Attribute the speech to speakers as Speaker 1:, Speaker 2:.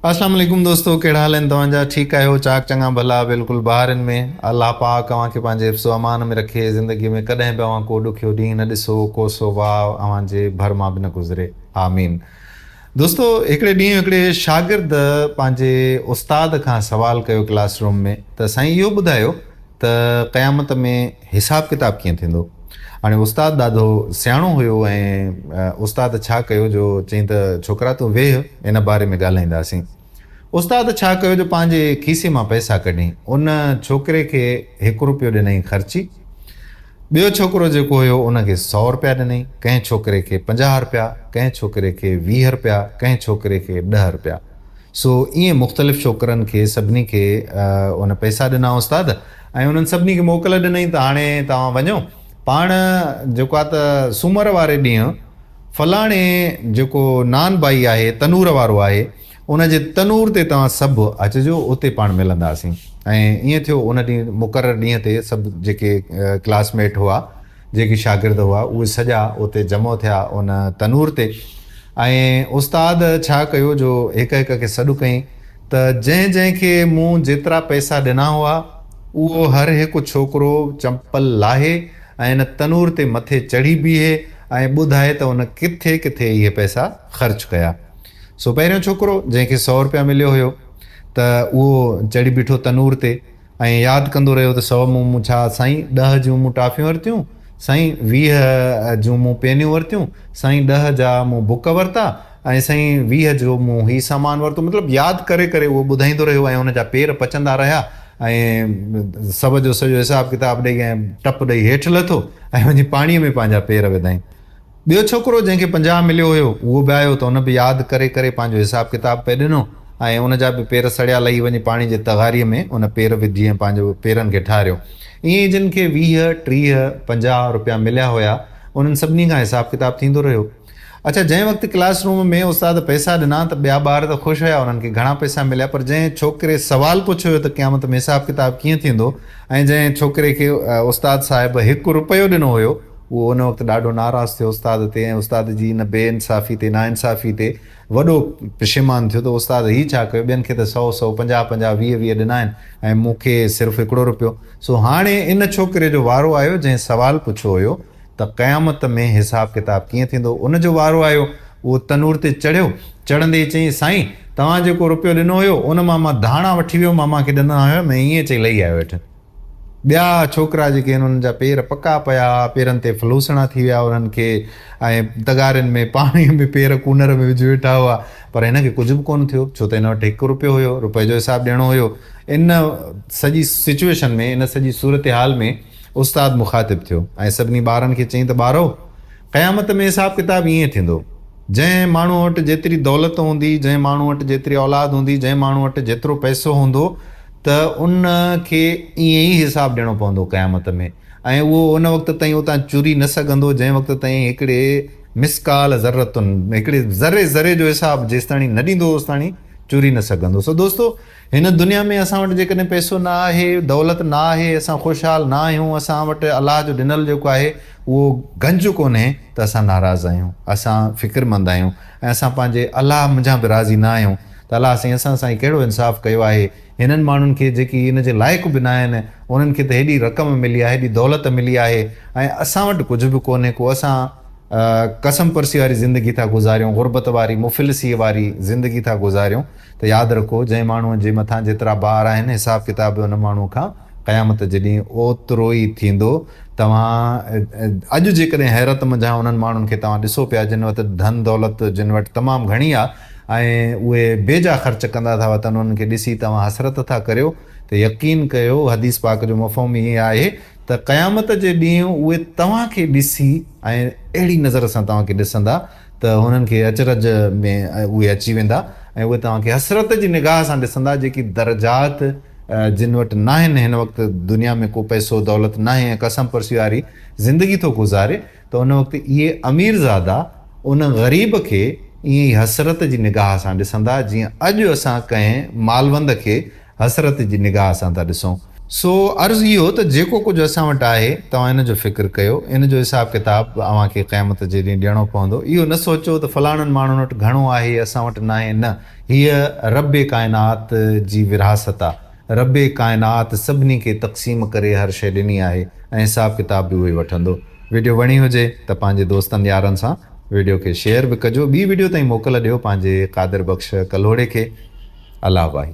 Speaker 1: اسلام عليڪم دوستو ڪهڙا حال آهن توهان جا ٺيڪ آهيو چاڪ چڱا ڀلا بلڪل بهارين ۾ الله پاڪ اوهان کي پنهنجي حفظ و امان ۾ رکي زندگي ۾ ڪڏهن به اوهان ڪو ڏکيو ڏينهن نه ڏسو ڪوسو واء اوهان جي ڀر مان به نه گذري آمين دوستو هڪڙي ڏينهن هڪڙي شاگرد پنهنجي استاد کان سوال ڪيو ڪلاس روم ۾ ته سائين اهو ٻڌايو ته قيامت ۾ حساب ڪتاب ڪيئن ٿيندو؟ هاڻي استاد ڏاڌو سياڻو هيو ۽ استاد ڇا ڪيو جو چيائين ته ڇوڪرا تون ويهه ان باري ۾ ڳالهائينداسين. استاد ڇا ڪيو جو پنهنجي کيسي مان پئسا ڪڍي ان ڇوڪري کي هڪ روپيو ڏنائين خرچي، ٻيو ڇوڪرو جيڪو هيو ان کي سؤ روپيا ڏنائين، ڪنهن ڇوڪري کي پنجاهه روپيا، ڪنهن ڇوڪري کي ويهه روپيا، ڪنهن ڇوڪري کي ڏهه روپيا. سو ائين مختلف ڇوڪرن کي سڀني کي ان پئسا ڏنا استاد ۽ انهن سڀني کي موڪل ڏنئين ته هاڻي توهان وڃو پاڻ جيڪو آهي ته سومر واري ڏينهن فلاڻي جيڪو نان بائي آهي تنور وارو آهي ان جي تنور تي توهان سڀ اچجو اتي پاڻ ملنداسين ۽ ائين ٿيو ان ڏينهن مقرر ڏينهن تي سڀ جيڪي ڪلاس ميٽ هئا جيڪي شاگرد هئا اهي سڄا اتي جمع ٿيا ان تنور تي ۽ استاد ڇا ڪيو جو هڪ هڪ کي سڏ ڪئين ته جنهن جنهن کي مون جيترا پئسا ڏنا هئا اهو هر هڪ ڇوڪرو چمپل لاهي ۽ ان تنور تي مٿي چڙهي بيهي ۽ ٻڌائي ته ان ڪٿي ڪٿي اهي پئسا خرچ ڪيا سو پهريون ڇوڪرو جنهن کي سؤ روپيا مليو هيو ته اهو چڙهي بيٺو تنور تي ۽ ياد ڪندو رهيو ته سؤ مون مون ڇا سائين ڏهه جون مون ٽافيون ورتيون سائين ويهه جون مون پينيون ورتيون سائين ڏهه جا مون بڪ ورتا ۽ سائين ويهه جو مون هي سامان ورتو مطلب ياد ڪري ڪري اهو ٻڌائيندو رهيو ۽ هن جا پير پچندا رهيا ۽ سڀ جو سڄو حساب ڪتاب ڏئي ۽ ٽپ ڏئي هيٺ لٿو ۽ وڃي پاڻي ۾ پنهنجا پير وڌائين ٻيو ڇوڪرو جنهن کي پنجاهه مليو هيو اهو به آيو ته ان به ياد ڪري ڪري پنهنجو حساب ڪتاب پئي ڏنو ۽ ان جا به پير سڙيا لهي وڃي پاڻي جي تغاري ۾ ان پير وجهي ۽ پنهنجو پيرن کي ٺاريو ائين ئي جن کي ويهه، ٽيهه، پنجاهه روپيا مليا هيا انهن سڀني کان حساب ڪتاب ٿيندو رهيو اڇا جنهن وقت ڪلاس روم ۾ استاد پئسا ڏنا ته ٻيا ٻار ته خوش هيا انهن کي گهڻا پئسا مليا پر جنهن ڇوڪري سوال پڇيو هيو ته قيامت ۾ حساب ڪتاب ڪيئن ٿيندو ۽ جنهن ڇوڪري کي استاد صاحب هڪ روپيو ڏنو هيو هو ان وقت ڏاڍو ناراض ٿيو استاد تي ۽ استاد جي ان بي انصافي تي، ناانصافي تي وڏو پشيمان ٿيو ته استاد هي ڇا ڪيو، ٻين کي ته سؤ سؤ، پنجاهه پنجاهه، ويهه ويهه ڏنا آهن ۽ مون کي صرف هڪڙو رپيو. سو هاڻي ان ڇوڪري جو وارو آيو جنهن سوال پڇيو هيو ته قيامت ۾ حساب ڪتاب ڪيئن ٿيندو؟ ان جو وارو آيو، اهو تنور تي چڙهيو، چڙهندي ئي چيائين، سائين! توهان جيڪو رپيو ڏنو هيو، ان مان مان ڌاڻا وٺي ويو مان مانکي ڏنا هيم ۽ ائين چئي لهي آيو هيٺ. ٻيا ڇوڪرا جيڪي هن انهن جا پير پڪا پيا هئا پيرن تي ڦلوسڻا ٿي ويا انهن کي ۽ تغارين ۾ پاڻي ۾ پير ڪونر ۾ وجهي ويٺا هئا پر هن کي ڪجهه به ڪونه ٿيو ڇو ته هن وٽ هڪ روپيو هيو روپئي جو حساب ڏيڻو هيو ان سڄي سچويشن ۾ ان سڄي صورتحال ۾ استاد مخاطب ٿيو ۽ سڀني ٻارن کي چئين ته ٻارو قيامت ۾ حساب ڪتاب ائين ٿيندو جنهن ماڻهو وٽ جيتري دولت هوندي جنهن ماڻهو وٽ جيتري اولاد هوندي جنهن ماڻهو وٽ جيترو پئسو هوندو ته ان کي ائين ئي حساب ڏيڻو پوندو قيامت ۾ ۽ اهو ان وقت تائين اتان چري نه سگهندو جنهن وقت تائين هڪڙي مثقال ذرة هڪڙي ذري ذري جو حساب جيستاڻي نه ڏيندو اوستاڻي چري نه سگهندو سو دوستو هن دنيا ۾ اسان وٽ جيڪڏهن پئسو نه آهي دولت نه آهي اسان خوشحال نه آهيون اسان وٽ الله جو ڏنل جيڪو آهي اهو گنج ڪونهي ته اسان ناراض آهيون اسان فڪرمند آهيون ۽ اسان پنهنجي الله منجهان به راضي نه آهيون ته الله سائين اسان سان هي ڪهڙو انصاف ڪيو آهي، هنن ماڻهن کي جيڪي ان جي لائق به ناهن، انهن کي ته هيڏي رقم ملي آهي، هيڏي دولت ملي آهي ۽ اسان وٽ ڪجهه به ڪونهي ڪو اسان قسم پرسي واري زندگي ٿا گذاريون، غربت واري، مفلسيء واري زندگي ٿا گذاريون ته ياد رکو جنهن ماڻهوء جي مٿان جيترا بار آهن حساب ڪتاب به ان ماڻهوء کان قيامت جي ڏينهن اوتروئي ٿيندو، توهان اڄ جيڪڏهن حيرت منجهان انهن ماڻهن کي توهان ڏسو پيا جن وٽ ڌن دولت جن وٽ تمام گهڻي آ. ۽ اهي بي جا خرچ ڪندا ٿا وتن انهن کي ڏسي توهان حسرت ٿا ڪريو ته يقين ڪيو حديث پاڪ جو مفهوم هي آهي ته قيامت جي ڏينهن اهي توهان کي ڏسي ۽ اهڙي نظر سان توهان کي ڏسندا ته انهن کي اچرج ۾ اهي اچي ويندا ۽ اهي توهان کي حسرت جي نگاهه سان ڏسندا جيڪي درجات جن وٽ ناهن هن وقت دنيا ۾ ڪو پئسو دولت ناهي ۽ قسم پرسي واري زندگي ٿو گذاري ته ان وقت اهي اميرزادا ان غريب کي ائين ئي حسرت جي نگاهه سان ڏسندا جيئن اڄ اسان ڪنهن مالوند کي حسرت جي نگاهه سان ٿا ڏسون. سو عرض اهو ته جيڪو ڪجهه اسان وٽ آهي توهان ان جو فڪر ڪيو، ان جو حساب ڪتاب به اوهان کي قيامت جي ڏينهن ڏيڻو پوندو، اهو نه سوچو ته فلاڻن ماڻهن وٽ گهڻو آهي اسان وٽ ناهي، نه هيء رب ڪائنات جي ورهاست آ. ربّ ڪائنات سڀني کي تقسيم ڪري هر شيء ڏني آهي ۽ حساب ڪتاب به اهوئي وٺندو. وڊيو وڻي هجي ته پنهنجي دوستن يارن سان وڊيو کي شيئر به ڪجو ٻي وڊيو تائين موڪل ڏيو پنهنجي قادر بخش ڪلهوڙي کي الله واهي.